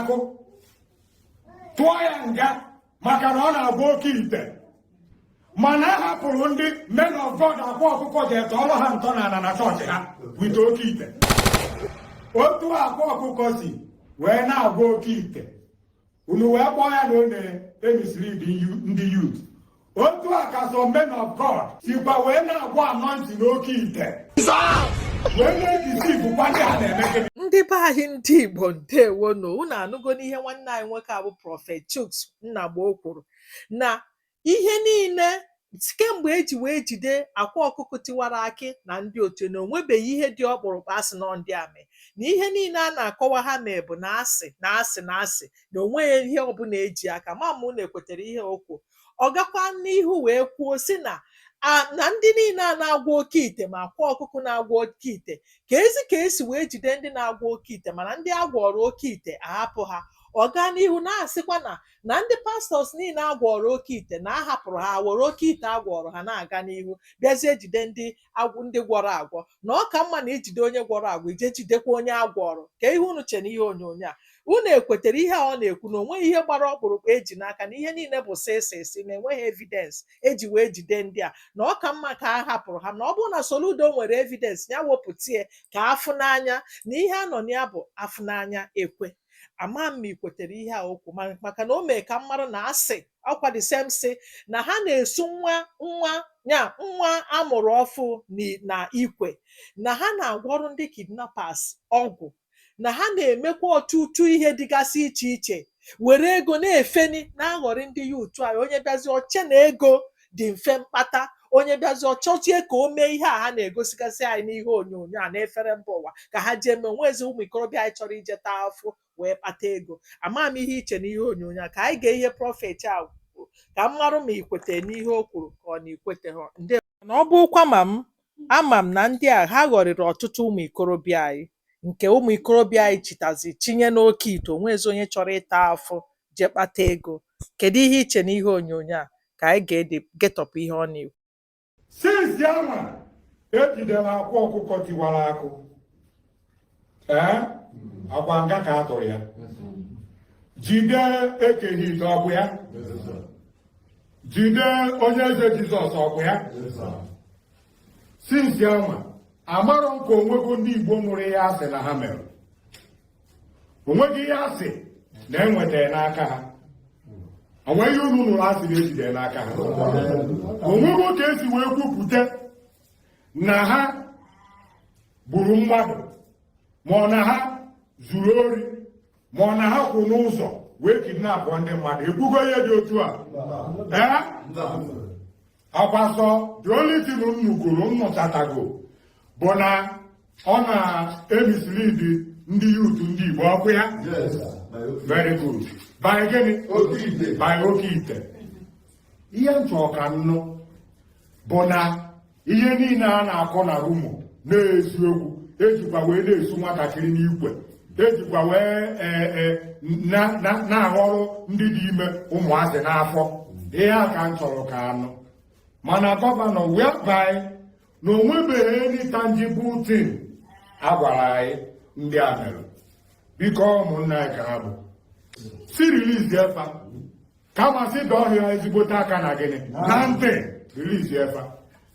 akụ tụọ ya nga maka na ọ na-agwọ oke ite mana a hapụrụ ndị men of God akwa ọkụkọ jee tọọrọ ha ntọ na ala na chọọchị ha with oke ite otu akwa ọkụkọ si wee na-agwọ oke ite unu wee kpọọ ya na ọ na-emislead ndị youth otu a ka some men of God sikwa wee na-agwọ anointing n'oke ite wee na-edeceivekwa ndị ha na-eme gịnị ndị be anyị ndị igbo ndewo nụ unu anụgo n'ihe nwanne anyị nwoke a bụ prophet Chuks Nnagbo o kwuru na ihe niile kemgbe eji wee jide akwa ọkụkọ tiwara akị na ndị otu na onwebeghị ihe dị ọkpụrụkpụ asị na ndị a mere na ihe niile a na-akọwa ha mee bụ na asị na asị na asị na onweghị ihe ọbụla eji aka ama m ma unu ekwetara ihe o kwuru Ọ gakwa n'ihu wee kwuo sị na na ndị niile a na-agwọ oke ite ma akwa ọkụkọ na-agwọ oke ite ka ezi ka esi wee jide ndị na-agwọ oke ite mana ndị a gwọọrọ oke ite ahapụ ha ọ gaa n'ihu na-asịkwa na na ndị pastors niile a gwọọrọ oke ite na a hapụrụ ha were oke ite a gwọọrọ ha na-aga n'ihu bịazie jide ndị agwọ ndị gwọrọ agwọ na ọ ka mma na i jide onye gwọrọ agwọ i jee jidekwa onye a gwọọrọ kee ihe unu che n'ihe onyonyo a unu ekwetara ihe a ọ na-ekwu na onweghị ihe gbara ọkpụrụkpụ eji n'aka na ihe niile bụ sị sị sị na enweghị evidence eji wee jide ndị a na ọ ka mma ka a hapụrụ ha na ọ bụrụ na Soludo nwere evidence ya wepụta ya ka afụ n'anya na ihe a nọ na ya bụ afụ n'anya ekwe ama m ma ị kwetere ihe a o kwu maka na o mee ka mmadụ na-asị ọkwa the same sị na ha na-esu nwa nwa ya nwa amụrụ ọfụụ ni- na ikwe na ha na-agwọrụ ndị kidnappers ọgwụ na ha na-emekwa ọtụtụ ihe dịgasị iche iche were ego na-efeni na-aghọrị ndị youth anyị onye bịazi ọ chee na ego dị mfe mkpata onye bịazi ọ chọzie ka o mee ihe a ha na-egosigasị anyị n'ihe onyonyo a na-efere mba ụwa ka ha jee mee onwezi ụmụ ikorobịa anyị chọrọ ije taa afụ wee kpata ego ama m ihe i che n'ihe onyonyo a ka anyị gee ihe prophet a kwuru ka m marụ ma i kwete n'ihe o kwuru ka ọ na i kweteha ndị na ọ bụkwa mụ ama m na ndị a ha ghọrịrị ọtụtụ ụmụ ikorobịa anyị nke ụmụ ikorobịa anyị chitazi chinye n'oke ite onwezi onye chọrọ ịta afụ jee kpata ego kedu ihe i che n'ihe onyonyo a ka anyị geedị getọpụ ihe ọ na-ekwu since ya nwa ejidere akwa ọkụkọ tiwara akụ ee ọkwa nga ka a tụrụ ya jide Eke Hit ọ bụ ya jide onye eze jizọs ọ bụ ya since ya nwa amarọ m ka o nwego ndị igbo nụrụ ihe asị na ha mere o nweghị ihe asị na enwetara n'aka ha o nweghị ihe unu nụrụ asị na ejidere n'aka ha o nwego ka esi wee kwupụta na ha gburu mmadụ ma ọ na ha zuru ori ma ọ na ha kwụ n'ụzọ wee kidnapụ ndị mmadụ ekwugo ihe dị otu a ee ọ kwa sọ the only thing unu kwuru m nụchatago bụ na ọ na-emislead ndị youth ndị Igbo ọ kwa ya very good by gịnị by oke ite ihe m chọrọ ka m nụ bụ na ihe niile a na-akọ na rumour na-eziokwu ejikwa wee na-esu nwatakịrị n'ikwe ejikwa wee e, e, na-aghọrọ ndị dị ime ụmụazị n'afọ ihe a ka m chọrọ ka a nụ mana governor whereby na onwebeghị any tangible thing a gwara anyị ndị a mere biko ụmụnna anyị ka ha bụ si release fa kama si dọọ ha ezigbote aka na gịnị na ntị release fa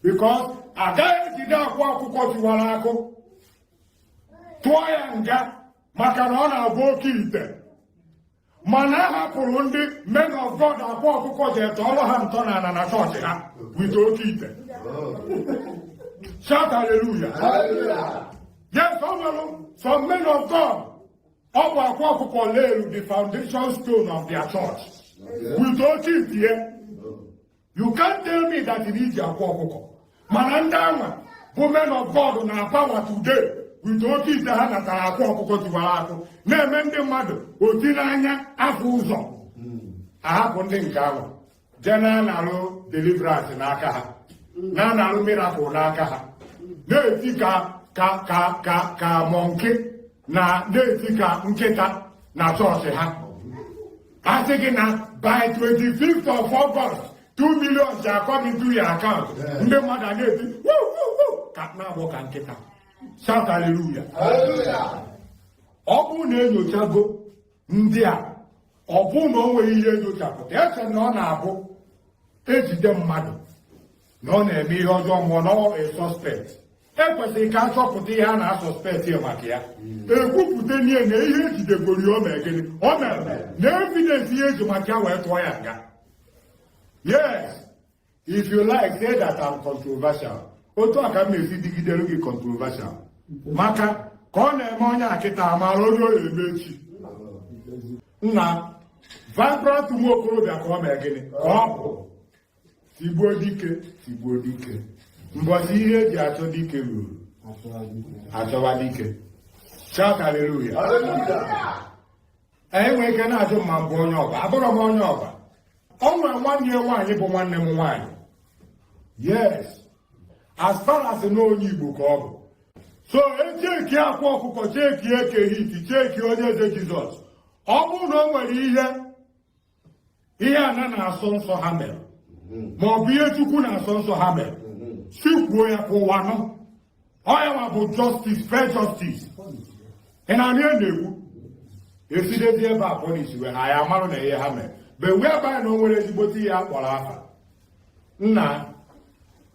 because agaghị ejide akwa ọkụkọ tiwara akụ tụọ ya nga maka na ọ na-agba oke ite mana a hapụrụ ndị men of God akwa ọkụkọ jee tọọrọ ha ntọ n'ala na chọọchị ha with oke ite shout hallelujah yes ọ nwere some men of God ọ bụ akwa ọkụkọ leelu the foundation stone of their church with oke ite You can't tell me that na i ji akwa ọkụkọ mana ndị anwa bụ men of God na power today with oke ite ha natara akwa ọkụkọ tiwara akụ na-eme ndị mmadụ oti n'anya afụ ụzọ ahapụ ndị nke ahụ jee na-analụ deliverance n'aka ha na-analụ miracle n'aka ha na-eti ka monkey na na-eti ka nkịta na chọọchị ha a sị gị na by 25th of August 2 million shall come into your account ndị mmadụ a na-eti ka na-agbọ ka nkịta shout hallelujah ọ bụrụ na enyochago ndị a ọ bụrụ na o nweghị ihe enyochapụta eche m na ọ na-abụ ejide mmadụ na ọ na-eme ihe ọjọọ ma ọ na ọ suspect ekwesịrị ka a chọpụta ihe a na-asuspect ya maka ya ekwupụta n'ihe na ihe ejidegoro ya o mere gịnị o mere na evidence ihe eji maka ya wee tụọ ya nga yes if you like say that I'm controversial otu a ka m na-esi dịgidere gị controversial maka ka ọ na-eme onye a kịta amarọ onye ọ ya-eme echi nna vibrant nwa okorobịa ka ọ mee gịnị ka ọ bụ tigbuo dike tigbuo dike mbọchị ihe eji achọ dike ruru achọwa dike shout hallelujah anyị nwere ike na-ajụ ma m bụ onye ọba abụrọ m onye ọba o nwere nwanne ya nwaanyị bụ nwanne m nwaanyị yes as far as na onye igbo ka ọ bụ so echeki akwa ọkụkọ cheki eke hiti cheki onye eze jizọs ọ bụrụ na o nwere ihe ihe ana na-asọ nsọ ha mere ma ọ bụ ihe chukwu na-asọ nsọ ha mere sị kwuo ya ka ụwa nụ ọ ya nwa bụ justice fair justice ị na-anụ ya na-ekwu esidezi ebe a police wee ha ya marụ na ihe ha mere but wee abanye na o nwere ezigbote ihe a kpọrọ afa nna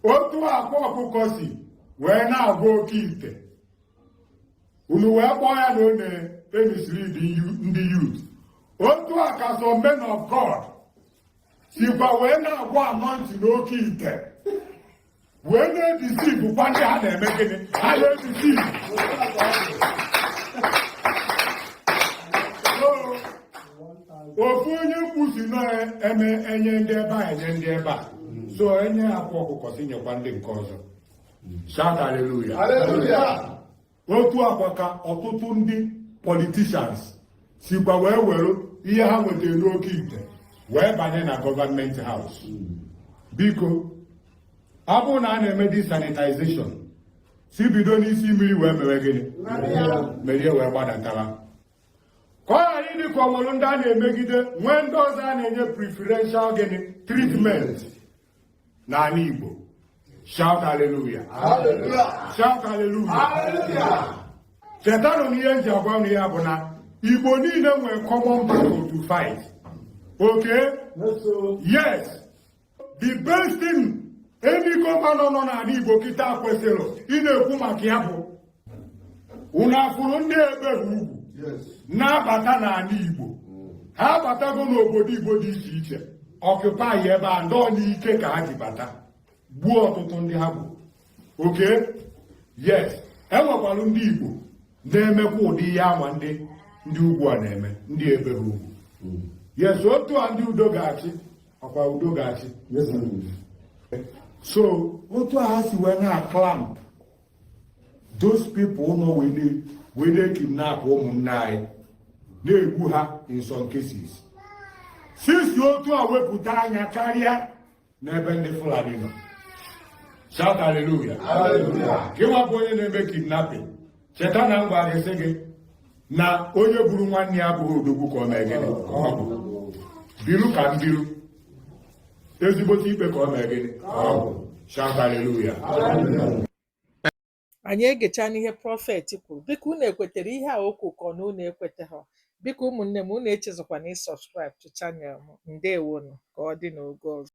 otu akwa ọkụkọ si wee na-agwọ oke ite unu wee kpọọ ya na ọ na-emislead ndị youth otu a ka some men of God sikwa wee na-agwa anointing n'oke ite wee na-edeceive kwa ndị ha na-eme gịnị ha na-edeceive ofu onye mkpusi na-eme enye ndị ebe a enye ndị ebe a so enye akwa ọkụkọ sị nyekwa ndị nke ọzọ Shout hallelujah. Hallelujah. otu akwa ka ọtụtụ ndị politicians sikwa wee were ihe ha nwetara n'oke ite wee banye na government house biko ọ bụrụ na a na-eme the sanitization sị bido n'isi mmiri wee mewe gịnị merie wee gbadatara ka ọ ghara ịdị ka o nwere ndị a na-emegide nwee ndị ọzọ a na-enye preferential gịnị treatment n'ala Igbo shout hallelujah shout hallelujah chetanụ na ihe m ji agwa ya bụ na Igbo niile nwere common battle to fight okay yes the best thing any governor nọ n'ala Igbo kịta kwesịrị ịna-ekwu maka ya bụ unu afụrụ ndị ebe ugwu na-abata n'ala Igbo ha abatago n'obodo Igbo dị iche iche occupy ebe a ndọọ n'ike ka ha ji bata gbuo ọtụtụ ndị ha gburu okay yes enwekwara ndị Igbo na-emekwa ụdị ihe anwa ndị ndị ugwu a na-eme ndị ebe ugwu hmm. yes otu a ndị udo ga-achị ọ kwa udo ga-achị so otu a ha si wee na-aclamp those people nọ wee na-ekidnap ụmụnne anyị na-egbu ha in some cases sị si otu a wepụta anya karịa n'ebe ndị Fulani nọ shout hallelujah gị nwa bụ onye na-eme kidnapping cheta na m gwara gị sị gị na onye gburu nwanne ya abụghị odogwu ka ọ mee gịnị biru ka m biru ezigbote ikpe ka ọ mee gịnị shout hallelujah anyị egecha n'ihe prophet kwuru biko unu ekwetere ihe a o kwuru ka ọ na unu ekwetaha biko ụmụnne m unu echezọkwana ịsubscribe to channel m ndewonu ka ọ dị n'oge ọzọ